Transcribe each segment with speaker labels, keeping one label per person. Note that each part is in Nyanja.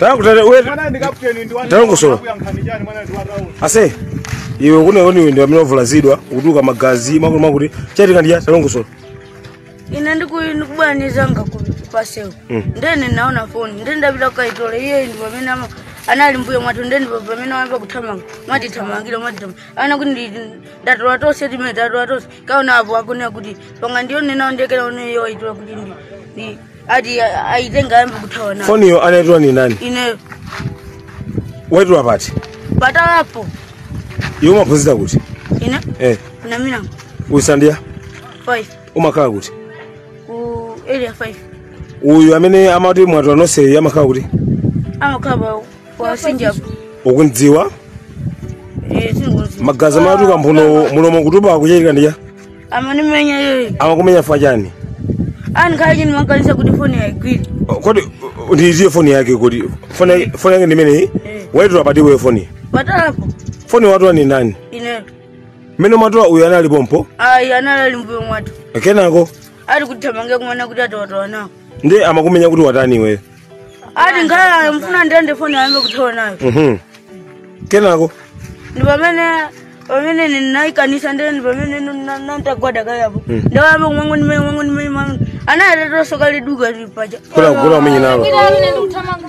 Speaker 1: Takutate uwe Mwana ndi kapteni ndi wani. Talongosola. Kuyankhani chani mwana ndi wa round. ase iwe kune oni wende amene wavulazidwa kutuka magazi makuti makuti chachitika ndiya talongosola ine
Speaker 2: ndiku- ndikubwera ndi nzanga ku- paseo Mm. ndene naona foni nde ndapita kukaitola iye ndi pamene ama- anali mbuyo mwathu nde ndipo pamene wayamba kuthamanga amatithamangira amatithamangira ana kuti ndi- ndatola tonse timene tatola tonse kaona apo akunena kuti tapanga ndione nawo ndekera ineyo waitola kuti ndi- ndi ati aitenga ayambe kuthawa nayo foniyo anaitola ni
Speaker 1: nani ineyo waitola pati patalapo
Speaker 2: iwe
Speaker 1: umaphunzira kuti ine eh
Speaker 2: kuna milango uli standard chani 5 umakhala kuti ku area 5 uyu
Speaker 1: amene amati mwatola nonse amakhala kuti
Speaker 2: amakhala kwa Sinjapo ukumudziwa sinikudziwa magazi amatuka
Speaker 1: mphuno mulomo kutupa kwachitika ndiya
Speaker 2: amanimenya yeye amakumenya fwa
Speaker 1: chani
Speaker 2: anikhala nimakaniza kuti foni aigwire O, kodi o,
Speaker 1: ndiiziye foni yake kodi foni yake- foni yake ndimeneyi waitola pati iweyo foni
Speaker 2: patalapo foni watola
Speaker 1: ni ndani
Speaker 2: ine mmene
Speaker 1: mwatola uyu anali pompo ayi anali ali mbuyo
Speaker 2: mwathu kenako
Speaker 1: ali
Speaker 2: kutithamangira kumanena kuti ati watola nawo ndi amakumenya
Speaker 1: kuti watani iweyo ati
Speaker 2: ngala amafuna andilande foni ayambe kuthawa nayo Mhm. kenako
Speaker 1: ndi
Speaker 2: pamene pamene ndinayikaniza ndee ndi pamene nantagwada kayapo nde ayambe kumangondimenya kumangondimenya kumango anayatatosoka liduka lipaja kula kula umenye nalo
Speaker 1: Ila amene ndikuthamanga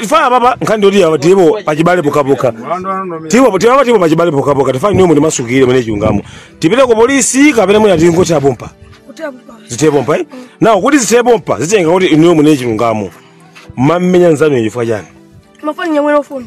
Speaker 1: mafana apapa nkhani ndiyoti apa tilipo pachibale pokhapokha tilipo tilipo tilipo pachibale pokhapokha tifuna inuyo mutimasukire munene chilungamo tipite ku polisi kapena mwina tingoti apompa zithe pompa eh? nawo kuti zithe pompa zitengera kuti inuyo munene chilungamo mmamenya nzanu chifukwa chani mafani nyamwera
Speaker 2: foni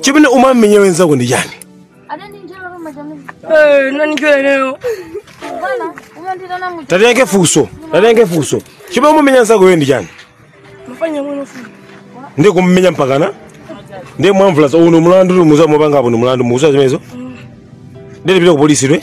Speaker 1: chimene umamenyera nzako ndi chani Eh,
Speaker 2: nani njole leo?
Speaker 1: tatenge funso tatenge funso chimene umamenyera nzako iwe ndi chani Mfanya
Speaker 2: mwana foni. ndi
Speaker 1: kumumenya mpakana ndi kumvulaza uwu ni mulandu mukudziwa mwapanga apo ni mulandu mukudziwa zimenezo nde tipita ku polisi iwe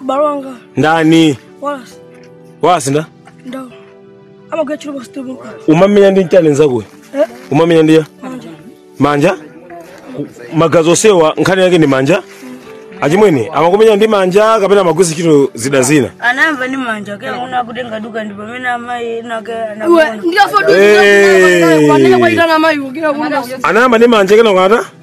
Speaker 1: Bro
Speaker 3: wanga.
Speaker 1: ndani Wallace. Wallace ndani
Speaker 3: Ndo. Ama kwa chilo basi tubu. umamenya ndi nchani
Speaker 1: nzakoyo Eh. umamenya ndiya Manja. manja Ku- magazi onsewa nkhani yake ndi manja achimwene amakumenya ndi manja kapena amagwiritsa ntchito zida zina anayamba ni
Speaker 2: manja kenako nkutenga duka ndi pamene amayi ake Uwe. anakuona Ndikafa duka.
Speaker 3: Eh. Wanene kuwaitana mayi. Kina kuna. anayamba ndi manja
Speaker 1: kenako ata